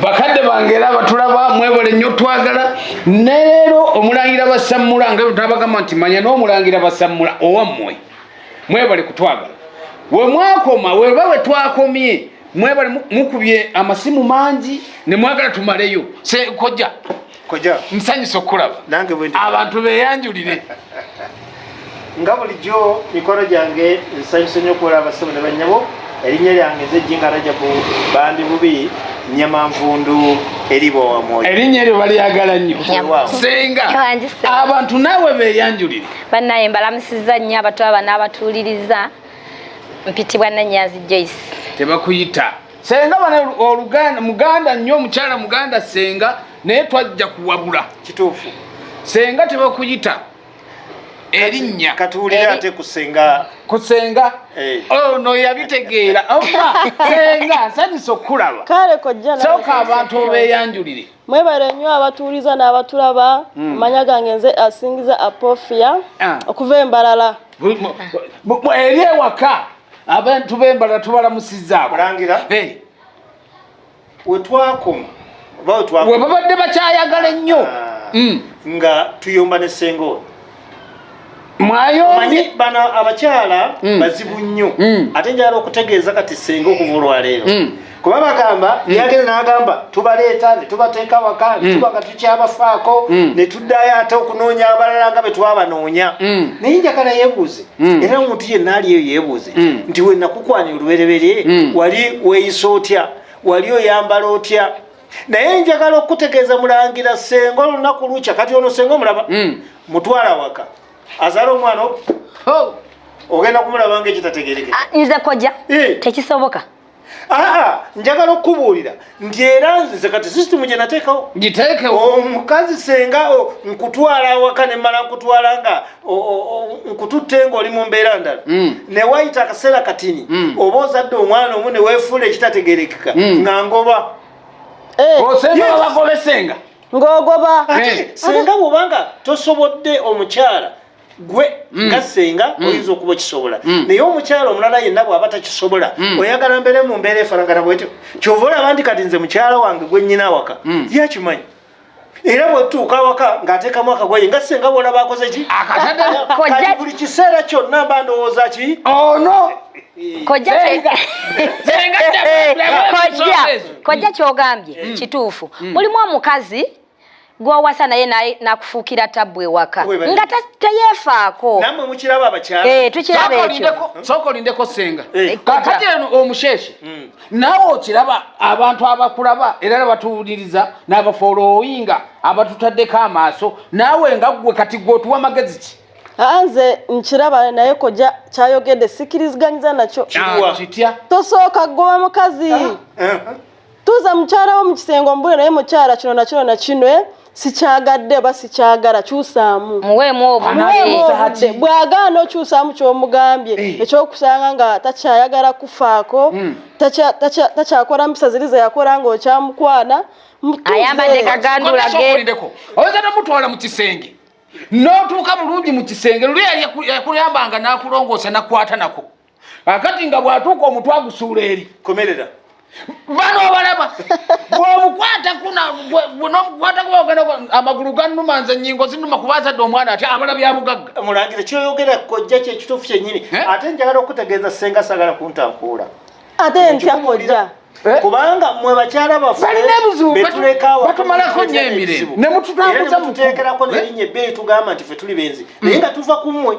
bakadde bange era batulaba mwebole nnyo twagala neleero omulangira basammula nga tabagamba nti manya n'omulangira basammula owammwe mwebale kutwagala wemwakoma weba wetwakomye mwebale mukubye amasimu mangi nemwagala tumaleyo sekojja koja nsanyusa okukulaba nange bwe abantu beyanjulire nga bulijjo mikolo gyange nsanyusa nnyo okuwala abasabo ne bannyabo erinnya lyange nze jinga rajabu bandi bubi nyama nvundu eribo wamwoyo erinnya eryo balyagala nnyo senga abantu naawe beyanjulire bannaye mbalamusiza nnyo abatu aba n'abatuuliriza mpitibwa nanyazi joyce tebakuyita senga bane oluganda muganda nnyo omukyala muganda senga naye twajja kuwabula kituufu senga tebakuyita erinnya katuwulira ate kusenga kusenga eh. ono oh, yabitegeera oba senga nsanyusa okukulaba kale kojja soka abantu obeyanjulire mwebale nnyo abatuuliza n'abatulaba hmm. amanya gange nze asingiza apofia ah. okuva embalala eri ewaka abantu bembala tubalamusiza mulangira wetwakoma webabadde bakyayagala ennyo ah. mm. nga tuyomba ne senga ono mwayomanyi bano abakyala mm. bazibu nnyo mm. ate njala okutegeeza kati senga okuva olwaleero kuba bagamba hmm. yagenda n'agamba tubaleeta ne tubateeka waka hmm. tuba nga tukyabafaako hmm. ne tuddayo ate okunoonya abalala nga bwe twabanoonya naye njagala yeebuuze era omuntu yenna ali eyo yeebuuze nti we nakukwani olubereberye wali weeyisa otya wali oyambala otya naye njagala okukutegeeza mulangira senga olunaku lukya kati ono senga omulaba mutwala waka azaala omwana ogenda kumulaba nga ekitategerekea ah, nze koja eh. tekisoboka aa njagala okukubuulira nti era nze kati sisitimu gye nateekawo giteekewo omukazi senga nkutwala awaka ne mmala nkutwala nga nkututte ng'oli mu mbeera ndala mm. ne wayita akaseera katini mm. oba ozadde omwana omu ne weefuula ekitategerekeka mm. nga ngoba eh. osenga babagobesenga ng'ogoba senga bwobanga tosobodde omukyala gwe mm. nga senga mm. oyinza okuba okisobola mm. naye omukyalo omulala yenna bwaba takisobola oyagala mbeere mu mbeera efanagana bwetyo kyova olaba nti kati nze mukyalo wange gwe nyina awaka yakimanyi era bwetuuka awaka ng'ateekamu akagoye nga senga bwolaba akoze ki kati buli kiseera kyonna mba ndowooza ki ono kojja kyogambye kituufu mulimu omukazi gwowasa naye nakufuukira tabbu ewaka nga teyefaako namwe mukiraba abakyala eh, tukiraba ekyo sooka olindeko senga eh. kakati eno omusheshe hmm. nawe okiraba abantu abakulaba era nebatuwuliriza nabafolowinga abatutaddeko amaaso naawe nga ggwe kati gwe otuwa magezi ki anze nkiraba naye koja kyayogedde sikiriziganyiza nakyo kitya tosooka goba mukazi ah. tuuza mukyala wo mu kisenge omubule naye mukyala kino na kino na kino eh? sikyagadde oba sikyagala kyusaamu muweemu obudde bw'agaana okyusaamu ky'omugambye eh. ekyokusanga nga takyayagala kufaako hmm. takyakola mpisa ziri zeyakola nga okyamukwana ayambadde kaganduulageeko oyinza nomutwala mu kisenge n'otuuka bulungi mu kisenge luli yakuyambanga n'akulongoosa nakwata nako akati nga bwatuuka omutwe agusuula eri komerera bano obalaba bwomukwataku nomukwataku ogenda amagulu ganuma nze nyingo zinuma kuba azadde omwana ati abala byabugagga mulangire kyoyogera kojja kyekituufu kyenyini eh? ate njagala okutegeeza senga sagala kuntankuula ate ntya kojja Eh? kubanga mwe bakyala baffebalinaebuzubatumalako nyo emire nemututambuza muteekerako nerinye ebbeeyi tugamba nti fe tuli benzi naye nga tuva ku mmwe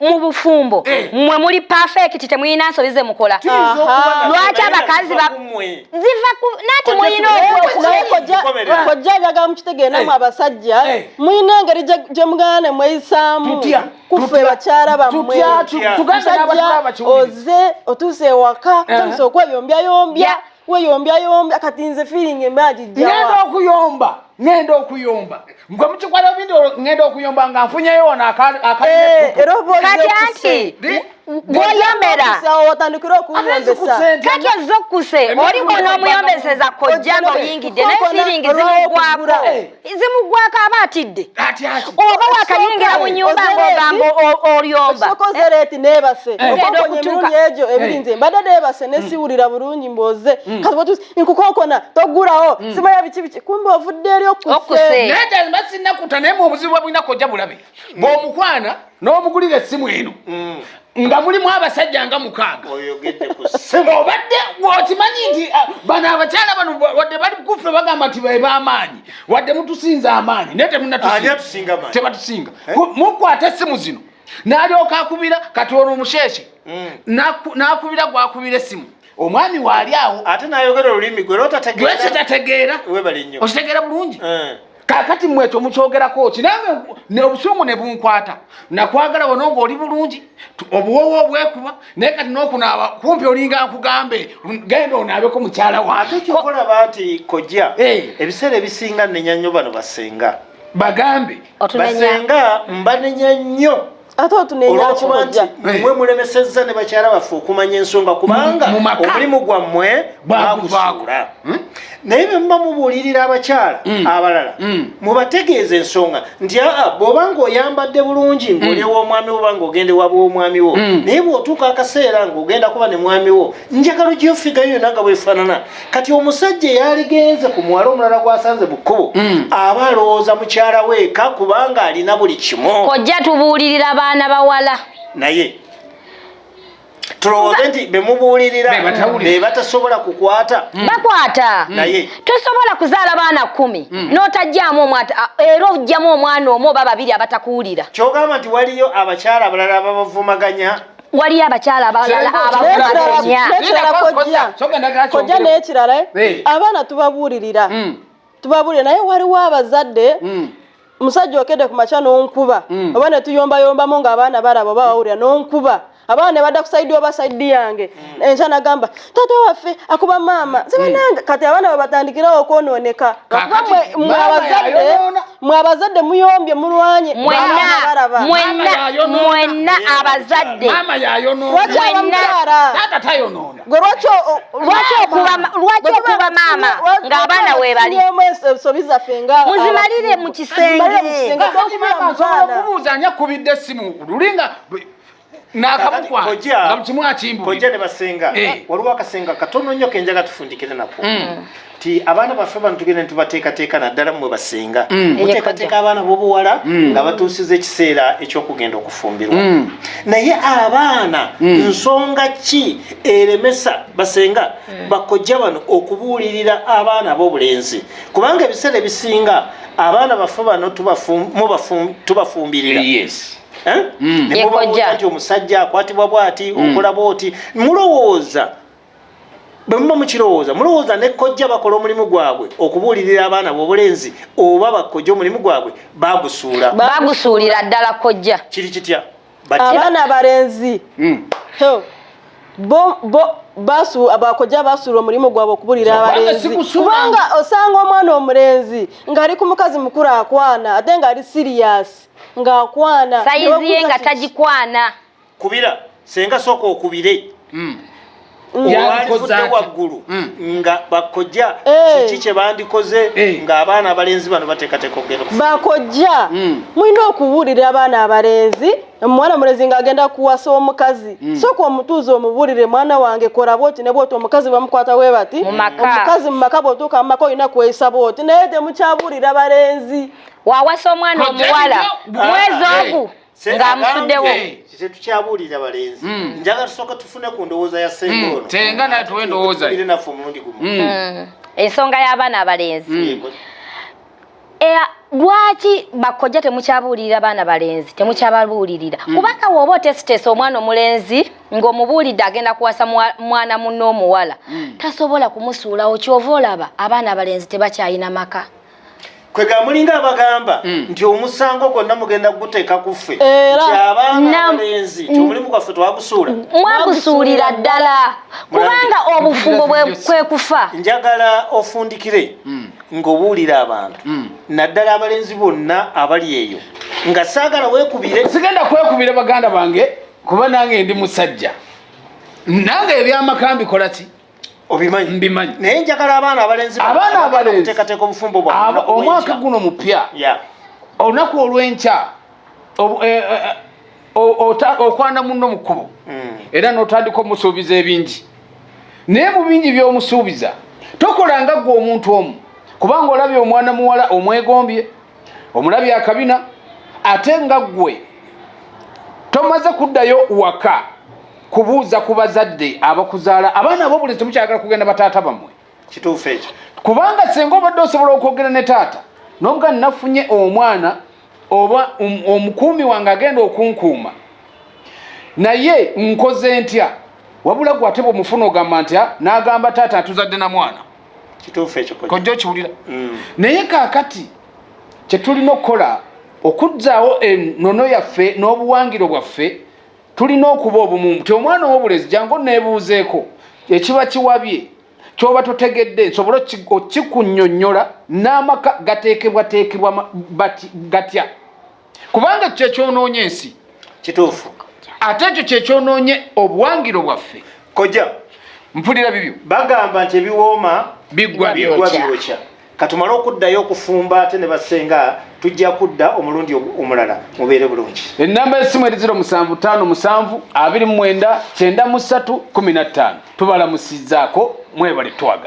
mu bufumbo eh. mwe muli pafekiti temulina nsobi ze mukola lwaki abakazi ziva nati mulina okojja njagala mukitegeera namwe eh. abasajja eh. mulina engeri gye mugana ne mweyisaamu kuffe bakyala bammwe musajja oze otuuse ewaka tandise okweyombyayomby weyombya yombya kati nze feeling emaji jawa ngenda okuyomba ngenda okuyomba ngwe mukikwala bindi ngenda okuyomba nga nfunyeyo wona akaliekati anti gwoyomera kati ozze okkuse oliko n'omuyombeseza kojja nga oyingidde naye feeling zimugwako zimugwako aba atidde oba wakayingira mu nyumba ng'ogamba olyomba sokozereeti neebase eh. ogenda okutuuka egyo eh. ebiri nze mbadde neebase mm. nesiwulira bulungi mboze mm. kati watuusi nkukonkona toggulawo mm. simanya biki biki kumbe ovudde eri okusenaye sinnakuta naye mu obuzibu bwa bulina kojja bulabe bw'omukwana n'omugulira essimu eno mm. nga mulimu abasajja nga mukaaga obadde okimanyi nti ah, bano abakyala bano wadde bali kufe bagamba nti beba amaanyi wadde mutusinza amaanyi naye temunatebatusinga eh? mukwata essimu zino nalyoka akubira kati olwo omusheshe mm. nakubira gwakubira essimu omwami waali awo ate nayogera olulimi gwe lwekitategeera okitegeera bulungi eh. kakati mwe ekyo mukyogerako ki nange obusungu ne bunkwata nakwagala wano ng'oli bulungi obuwowo obwekuba naye kati n'okunaaba kumpi olinga nkugambe genda onaabeko mukyala waate kyokolaba nti kojja eh. ebiseera ebisinga nenya nnyo bano basenga bagambe basenga mbanenya nnyo ate otunenya nti mwe mulemesezza ne bakyala baffe okumanya ensonga kubanga omulimu gwammwe bagusuula hmm? naye bwe muba mubuulirira abakyala hmm. abalala hmm. mubategeeza ensonga nti aa bw'oba ng'oyambadde bulungi ng'oli ew'omwami wo banga ogenda ewa bw'omwami wo naye bw'otuuka akaseera ng'ogenda kuba ne mwami wo njagala ogiyofigayo yona nga bwefaanana kati omusajja eyaligenze ku mwala omulala gwasanze mu kkubo hmm. aba alowooza mukyala weeka kubanga alina buli kimu ojja tubuulirira abaana bawala naye tulowooze nti bemubuulirira bebatasobola kukwata hmm. bakwata hmm. naye tosobola kuzaala baana kumi notajjamu omu era ojjamu omwana omu oba babiri abatakuwulira kyogamba nti waliyo abakyala abalala babavumaganya waliyo abakyala abalala abakumaenyakoja n'ekirala eh? abaana tubabuulirira hmm. tubabuulire naye waliwo abazadde hmm. musajja okedde ku makya n'onkuba hmm. oba ne tuyombayombamu ng'abaana balaba oba wawulira n'onkuba abaana ne badda ku saidi oba saidi yange enkya nagamba taata waffe akuba maama nze banange kati abaana babatandikirawo okwonooneka lwakuba mwe abazadde muyombye mulwanye mwenna abazadde gwe lwaki okuba maama ng'abaana webali ensobi zaffe nga muzimalire mu kisenge okubuuza ani akubidde essimu luli nga nakabukwangamukimwakimbukojja ne basenga eh. waliwo akasenga katono nnyo kenjaga tufundikire nako mm. ti abaana baffe bano tugenda netubateekateeka naddala mmwe basenga mm. muteekateeka abaana bobuwala mm. nga batuusiza ekiseera ekyokugenda okufumbirwa naye abaana nsonga ki eremesa basenga bakojja bano okubuulirira abaana abobulenzi kubanga ebiseera ebisinga abaana baffe bano tubafumbirira eh, eh? mm. nti omusajja akwatibwa bwati mm. okola bwoti mulowooza bwe muba mukirowooza mulowooza ne kojja bakola omulimu gwabwe okubuulirira abaana b'obulenzi oba bakojja omulimu gwabwe bagusuula bagusuulira ddala kojja kiri kitya abaana abalenzi mm. bo bo basu abakoja basura omulimu gwabo okubulira abalenzi kubanga osanga omwana omulenzi ng'ali ku mukazi mukulu akwana ate ng'ali siriyasi ng'akwana sayizi ye nga tagikwana kubira senga sooka okubire hmm. olwalivudde mm. waggulu mm. nga bakojja eh. kiki kye bandikoze eh. ng'abaana abalenzi bano bateekateeka okugenda bakojja mm. mulina okubuulira abaana abalenzi omwana mulezi nga agenda kuwasa omukazi mm. soka omutuuza omubuulire mwana wange kola bwoti ne bwoti omukazi bamukwata we bati omukazi mu maka bwotuuka mu maka olina kweyisa bwoti naye temukyabuulira balenzi wawasa omwana omuwala mwezi ogu ng'amusuddewo tetukyabulira balenzi hmm. njaga tusooka tufune ku ndowooza ya senga hmm. ono senga natuwa endowooza naffe omulundi gumu hmm. ensonga y'abaana abalenzi eh, lwaki bakojja temukyabuulirira baana balenzi temukyababuulirira mm. kubanga woba otesiteesa omwana omulenzi ng'omubuulidde agenda kuwasa mwana munne omuwala mm. tasobola kumusuulawo kyova olaba abaana abalenzi tebakyalina maka kwega mulinga abagamba mm. nti omusango gwonna mugenda kuguteeka ku ffe nti abaana abalenzi nti omulimu gwaffe twagusuula mwagusuulira ddala kubanga obufumbo kwe kufa njagala ofundikire mm. ng'obuulira abantu mm. naddala abalenzi bonna abali eyo nga saagala weekubire sigenda kwekubira baganda bange kuba nange ndi musajja nange ebyamaka mbikola ki obimanyi mbimanyi naye njagala abaana abalenzi abaana abalenzi tekateka obufumbo bwa omwaka guno mupya yeah olunaku olwenkya eh, eh, eh, okwana munno mu kkubo hmm. era n'otandika omusuubiza ebingi naye mu bingi by'omusuubiza tokolanga gwe omuntu omu kubanga olabye omwana muwala omwegombye omulabye akabina ate nga ggwe tomaze kuddayo waka kubuuza ku bazadde abakuzaala abaana abo buli temukyagala kugenda bataata bamwe kituufu ekyo kubanga senga obadde osobola okwogera ne taata nobuga nafunye omwana oba um, omukuumi wange agenda okunkuuma naye nkoze ntya wabula gwe ate bwomufuna ogamba ntya n'agamba taata atuzadde na mwana kituufu ekyo kojja okiwulira mm. naye kaakati kyetulina okukola okuzzaawo enono yaffe n'obuwangiro bwaffe tulina okuba obumu ti omwana owobulezi jangu nebuuzeeko ekiba kiwabye kyoba totegedde nsobole okikunyonyola n'amaka gateekebwateekebwa gatya kubanga kyekyonoonye ensi kituufu ate ekyo kyekyonoonye obuwangiro bwaffe koja mpulira bibyo bagamba nti ebiwooma biggwa byokya katumale okuddayo okufumba ate ne basenga tujja kudda omulundi omulala mubeere bulungi ennamba y'essimu eri 0757 29 13 tubalamusizzaako mwebale twaga